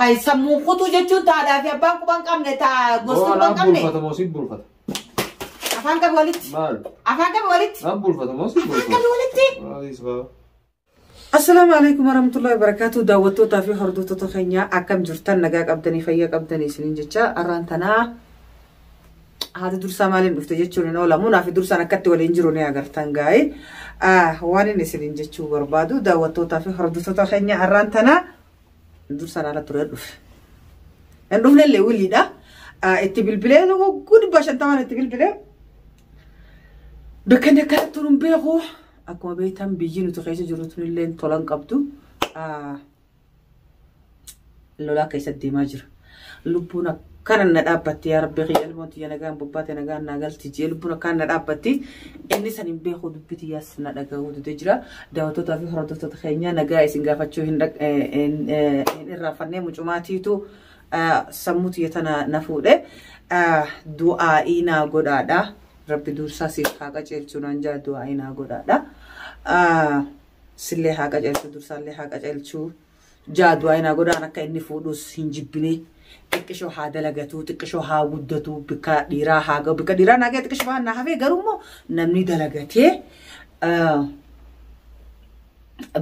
Hay sammuun kutuu jechuun taadhaa fi abbaan quba hin qabne taa gosti Boo quba hin anaaf qabne. bulfata moo si bulfata? Afaan qabi walitti. Maal? Afaan qabi walitti. Naaf bulfata moo si Afaan qabi bulfata? walitti. Maaliis baa? Assalaamu alaikum warahmatullahi wabarakatuh daawwattootaa fi hordoftoota keenya akkam jirtan nagaa qabdanii fayyaa qabdanii isiniin jecha arraan tanaa haati dursaa maaliin dhufte jechuun hin oolamu naafi dursaan akkatti waliin jiru ni agartan gaa'e waan inni isiniin jechuu barbaadu daawwattootaa fi hordoftoota keenya arraan tanaa dur saraara ture dhufe. Hin dhufne illee wiliidha. Itti bilbilee hogguu dhibba shantamaan itti bilbilee bakka inni akka turu hin beeku. Akkuma beektan biyyi nuti keessa jiru tun illee tolan qabdu lolaa keessa deemaa jira. lubbuun akkana na dhaabbatti yaa rabbi kiyya ilmoon tiyya nagaan bobbaate nagaan naa galti jee lubbuun akkaan na dhaabbatti inni san hin beeku dubbi tiyyaas na dhaga'uu dide jira daawwattootaa fi hordoftoota keenya nagaa isin gaafachuu hin dhag- eh, hin, eh, hin irraanfannee mucumaatiitu eh, sammuu tiyya tana na fuudhe Eh, du'aa'ii naa godhaadha rabbi dursaa siif haa qajeelchu naan jaa du'aa'ii naa godhaadha Ah, sillee haa qajeelchu dursaallee haa qajeelchu Jaa du'aa inaa godhaan akka inni fuudhus hin jibbinee. Xiqqishoo haa dalagatuu, xiqqishoo haa guddatuu, bikka dhiiraa haa ga'u. Bikka dhiiraa naa ga'e xiqqishoo waan naa hafee garuu immoo namni dalagatee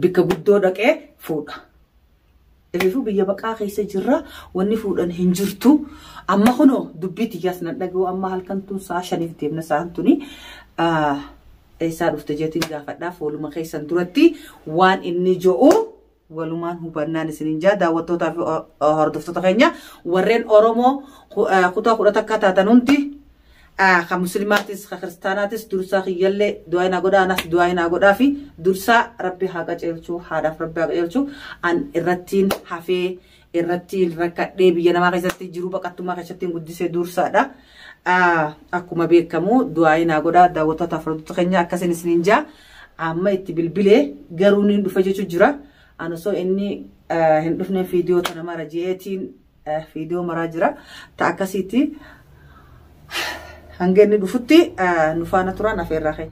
bikka guddoo dhaqee fuudha. Reefuu biyya baqaa keessa jirra wanni fuudhan hin jirtu. Amma kunoo dubbii tiyyaas nan dhaga'u amma halkan tun sa'a shaniif deemna sa'an tuni. Eessaa dhufte jeetiin gaafadhaa fooluma keessan duratti waan inni jo'u walumaan hubannaan isiniin jaa daawwattootaa fi hordoftoota keenya warreen Oromoo kutaa kudha takkaa taatan hundi kan muslimaatis kan kiristaanaatis dursaa kiyyallee du'aa naa godhaa anas du'aa naa godhaa fi dursaa rabbi haa qaceelchuu haadhaaf rabbi haa qaceelchuu an irrattiin hafee irratti rakkadhee biyya namaa keessatti jiruu baqattummaa keessatti guddise dursaadha. Akkuma beekamu du'aayi naa godha daawwattoota afrodota keenya akkasiin isiniin jaa amma itti bilbilee garuu ni dhufa jechuu jira. An osoo inni hin dhufne fiidiyoo tana mara jeetiin fiidiyoo maraa jira. Ta akkasiiti hanga inni dhufutti nufaana turan afeerraa keenya.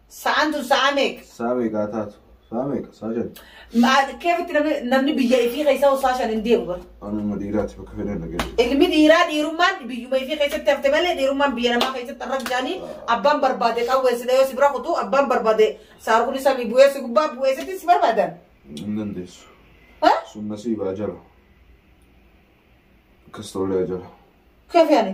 Sa'aan tun sa'aa meeqa? Saa meeqa haa taatu? Saa meeqa? Saa shan. Ma- Keefitti namni namni biyya ifii keessaa osoo shan hin deemu bara. Anuma dhiiraati bakka fedhan dhaga'e. Ilmi dhiiraa dhiirummaan biyyuma ifii keessatti hafte malee dhiirummaan biyya namaa keessatti har'a jaanii abbaan barbaade qawweessidha yoo si bira kutu abbaan barbaade saarkuni samii bu'eessi gubbaa bu'eessitti si barbaadan. Hin dandeessu. Ha? Sun nasiibaa jala. Akkas ta'ullee jala. Keef yaani.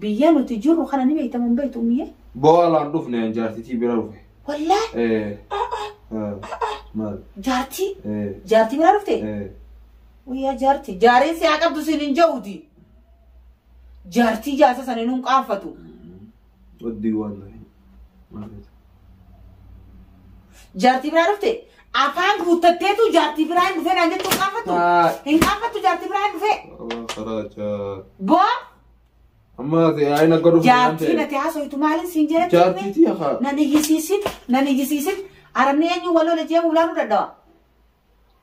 Biyya nuti jirru kana ni beektamu hin beektu ummiyee? Boolaan dhufne an jaartitii bira dhufe. Wallaahi Eh, ah, ah, maal? jaartii Eh, jaartii biraa dhufte? eh. Guyyaa jaartii jaariin si haa qabdu siin hin ja'uuti. Jaartii jaarsa sanii nuun qaanfatu. Oddii waan na hin. Maal jette? Jaartii biraa dhufte afaan guuttatteetu jaartii biraa hin dhufee naan jettu hin qaanfattu. Haa. Hin qaanfattu jaartii biraa hin dhufee. Waa karaa jaa. Boo Amma ati ayin akka dhufu jaartii nati haasoytu maaliin siin jedhatti hime? Jaartiitii haa. Nan iyyisiisin, nan iyyisiisin. Arabni eenyu wal lola jee ulaanuu dadhawa.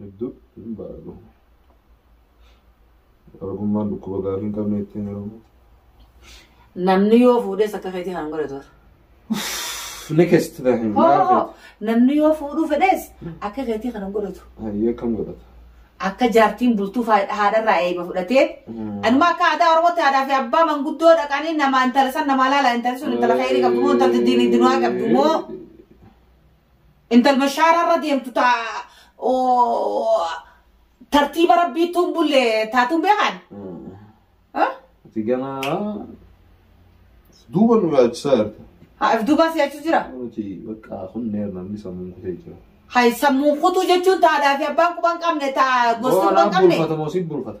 Hedduu hin baradhu. Arabummaan dhukkuba gaarii hin qabne ittiin heerumu. Namni yoo fuudhes akka keetii kan godhatu warra. Nikest tahim. Hoo namni yoo fuudhuu fedhes akka keetii kan godhatu. Hayyee kam godhata? Akka jaartiin bultuu fa- haadharraa eeba fudhatee. Anuma akka aadaa Oromootti haadhaa fi abbaa manguddoo dhaqanii nama intala san nama laala intala sun intala keerii qabdu moo intalti diinii dinaa qabdu moo. Intal bashaara irra deemtu ta tartiiba rabbiittuun bulle taatuun beekan. Ati gana duuba nu yaachisaa jirta. Haa if duubaa si yaachisu jira. Nuti bakka kun neer namni sammuun kutee jira. Hay sammuun kutuu jechuun taadhaa fi abbaan quban qabne taa gosti quban qabne. Bulfata moo si bulfata?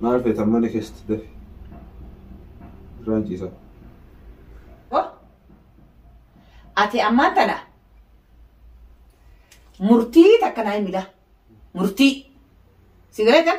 Maal feetan mana keessatti dafi. Irraan ciisa. Oh. Ati ammaan tana murtii takka naa himila. Murtii. Si galeetan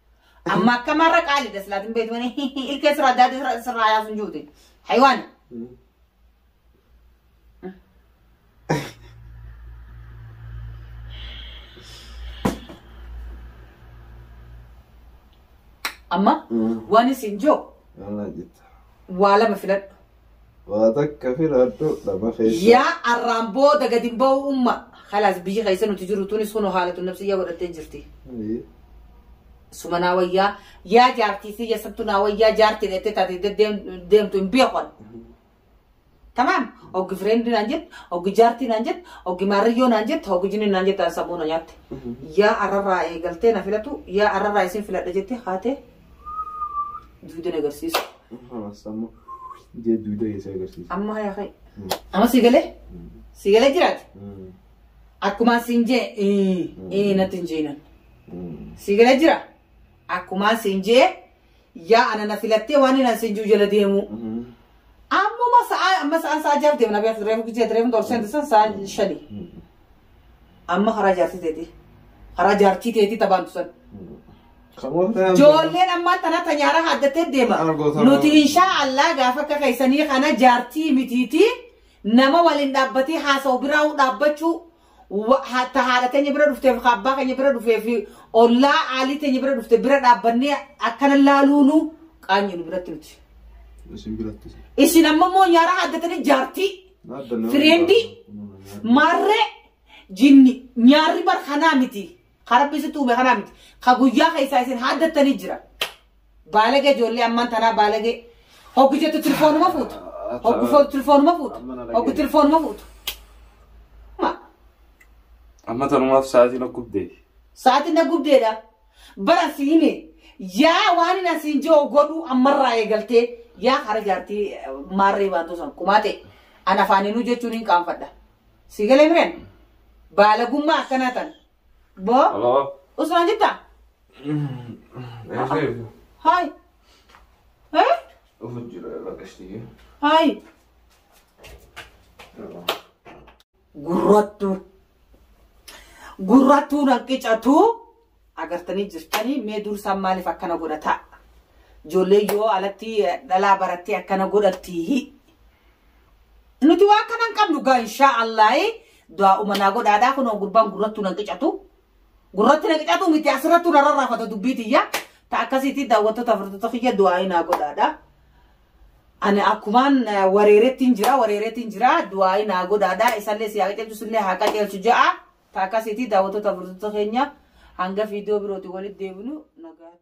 Amma akkamarra qaali daslaatin beektu wani ilkee sirraa daadii sirraa- sirraa yaasuun juute. Haywaan. Amma waan isin joo Maal jettu? waa lama filadhu. Waa takka firaadhu dhaba keessa. Yaa arraan booda gadi hin ba'u umma. Khalaas biyyi keessa nuti jiru tunis kunoo haalatu nafsiyyaa godhattee jirti. Ayii. Suma naa wayyaa yaa jaartii fi yasattu naa wayyaa jaartii dheettee taate deddeem- deemtu hin beekon. Tamaam oggi fireendi naan jette oggi jaartii naan jette oggi maarrayyoo naan jette oggi jinni naan jette an sammuu na nyaatte. Yaa arrarraa eegaltee na filatu yaa arrarraa isin filadha jette haatee Duudeen agarsiisa. Sammu jee duuda keessa agarsiisa. Amma yaa ka'e. Amma si galee? Si galee jiraate? Akkuma siin jee ii ii natti hin jeenan. Si galee jira? Akkuma siin jee yaa ana na filattee waan inni siin juu jala deemuu. Ammuma sa'aa amma sa'aan sa'aa jaaf deemna beektu reefu gijee reefu dorsen san sa'aan shanii. Amma karaa jaartii teetii. Karaa jaartii teetii tabaantu san. Joolleen ammaan tana ta nyaara haaddatee deema. Argoota Nuti baay'ee. inshaa Allah gaafa akka keessanii kana jaartii mitiiti nama waliin dhaabbatee haasa'u biraa dhaabbachuu wa- ha- ta haadha teenya bira dhufteef ka abbaa keenya bira dhufee fi ollaa aalii teenya bira dhufte bira dhaabbannee akkana laaluunu qaanyinu biratti nuti. Isin biratti. Isin amma immoo nyaara haaddatanii jaartii Fireendii maarree jinni nyaarri bar kanaa miti. Ka rabbi sitti uume kanaa miti. Ka guyyaa keessaa isin haaddattanii jira. Baalagee ijoollee ammaan tanaa baalagee. Hoggu jettu tilifoonuma fuutu. Hoggu fo- tilifoonuma fuutu. Hoggu tilifoonuma fuutu. Ma, Amma tanumaaf sa'aatiin akkubdee. Sa'aatiin na gubdeedha. Bara si hime yaa waan hin asiin jiru godhuu ammarraa eegaltee yaa hara jaartii eh, maarree baantuu san kumaa ta'e an afaaniinuu jechuun hin qaanfadha. Si galee mireen baalagummaa akkanaa tan. Boo Hello? usmaan jirtaa? Eesee? Haay. Eh? Dhufu jira irra qashtii. Haay. Yeroo. Gurrattuu. Gurrattuu nan qicatuu agartanii jirtanii mee dursaan maaliif akkana godhataa? Ijoollee yoo alatti dhalaa barattee akkana godhattii. Nuti waan kana hin qabnu gaa inshaa Allaahi du'aa umanaa godhaadhaa kunoo gurbaan gurrattuu nan qicatu. Gurratti nan qicatu miti asirrattuu narra raafata dubbii tiyya. Ta akkasiitii daawwattoota furdota kiyya du'aa inaa godhaadhaa. Ani akkumaan wareerettiin jira wareeretiin jira du'aayi naa godhaadha isallee si haa qajeelchu sillee haa qajeelchu ja'a ta akkasiiti daawwattoota furdota keenya hanga fiidiyoo birooti walitti deebinu nagaatti.